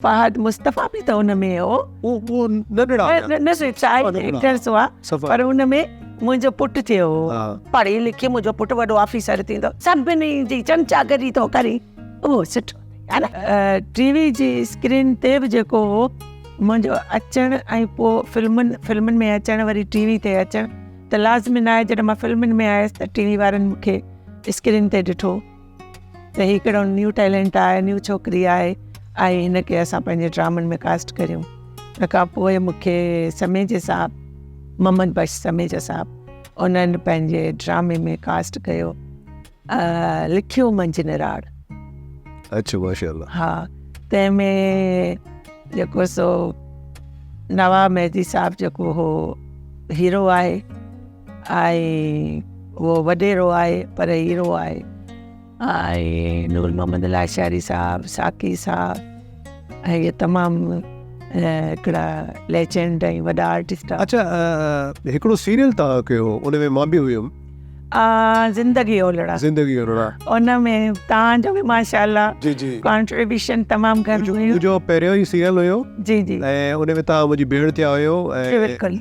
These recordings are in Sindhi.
فهد مصطفيٰ به ته ان ۾ هو. اهو نه ڏڙايان. نه نه چاهي ايڪٽر سو آ پر ان ۾ منهنجو پٽ ٿيو هو. پڙهي لکي منهنجو پٽ وڏو آفيسر ٿيندو سڀني جي چمچا گري ٿو ڪري اهو سٺو اٿئي ها نه. ٽي وي جي اسڪرين تي به جيڪو هو منهنجو اچڻ ۽ پوء فلمن فلمن ۾ اچڻ وري ٽي وي تي اچڻ ته لازمي ناهي جڏهن مان فلمن ۾ آيس ته ٽي وي وارن مون کي اسڪرين تي ڏٺو. ته هي ڪهڙو نيو ٽيلنٽ آهي نيو ڇوڪري آهي آئي هن کي اسان پنهنجي ڊرامن ۾ ڪاسٽ ڪريون ان کان پوء مونکي سميجي صاحب محمد بخش سميجا صاحب انهن پنهنجي ڊرامي ۾ ڪاسٽ ڪيو لکيو منجهه نراڙ اچھا ماشاء الله ها تنهن ۾ جيڪو سو نواب مهدي صاحب جيڪو هو هيرو آهي آء اهو وڏيرو آء پر هيرو آء. آء نور محمد لاشاري صاحب، ساقي صاحب ۽ اهي تمام هڪڙا ليجنڊ ۽ وڏا آرٽسٽ آهن. اڇا هڪڙو سيريل توهان ڪيو هو ان ۾ مان به هيم. زندگي اولڙا. زندگي اولڙا. ان ۾ توهان جو به ماشاءالله. جي جي. ڪانٽريبيوشن تمام گهڻو هيو. منهنجو پهريون ئي سيريل هيو. جي جي. ۽ ان ۾ توهان منهنجي ڀيڻ ٿيا هيو ۽. بلڪل.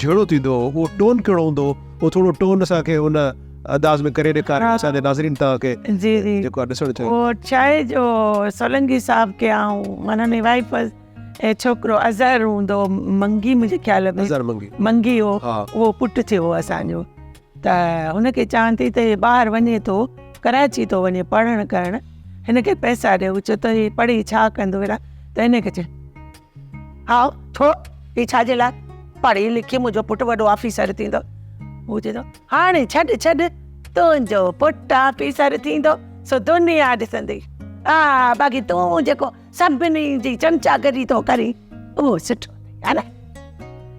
جهڙو ٿيندو هو اهو ٽون ڪهڙو هوندو هو اهو ٿورو ٽون اسان کي ان انداز ۾ ڪري ڏيکاريو اسان جي ناظرين توهان کي جي جي جيڪو آ ڏسڻ چاهيو اهو ڇاهي جو سولنگي صاحب کي آئون معنيٰ ني وائيف هئس ۽ ڇوڪرو اظهر هوندو هو منگي منهنجي خيال ۾ اظهر منگي منگي هو ها اهو پٽ ٿيو هو اسان جو ته هن کي چوان ٿي ته هي ٻاهر وڃي ٿو ڪراچي ٿو وڃي پڙهڻ ڪرڻ هن کي پئسا ڏيو چو ته هي پڙهي ڇا ڪندو اهڙا ته هن کي چي ھاء ڇو ھي ڇا جي لاء پڙھي لکي منھنجو پٽ وڏو آفيسر ٿيندو ھو چوي ٿو ھاڻي ڇڏ ڇڏ تنھنجو پٽ آفيسر ٿيندو سو دنيا ڏسندي ھا باقي تون جيڪو سڀني جي چمچا گري ٿو ڪرين اھو سٺو اٿئي ھا نه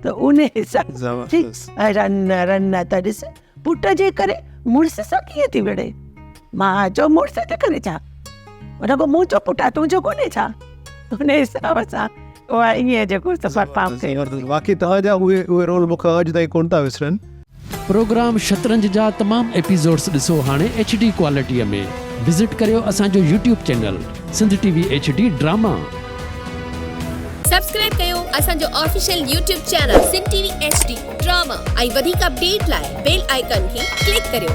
ته انھي حساب سان رن رن ته ڏس پٽ جي ڪري مڙس سان ڪيئن ٿي وڙهي؟ ماء جو مڙس جي ڪري ڇا؟ رڳو مون جو پٽ آ تون جو ڪونهي ڇا؟ ان حساب سان اها ائين جيڪو سفر پام ٿي واقعي توهان جا اهي اهي رول مون کان اڄ تائين ڪونه ٿا وسرن. پروگرام شطرنج جا تمام ايپيزوڊس ڏسو هاڻي ايڇ ڊي ڪوالٽي ۾ وزٽ ڪريو اسان جو YouTube channel. Sindh T V H D drama. Subscribe ڪيو اسان جو official YouTube channel Sindh T V H D drama ۽ وڌيڪ اپڊيٽ لاء بيل آئيڪان کي ڪلڪ ڪريو.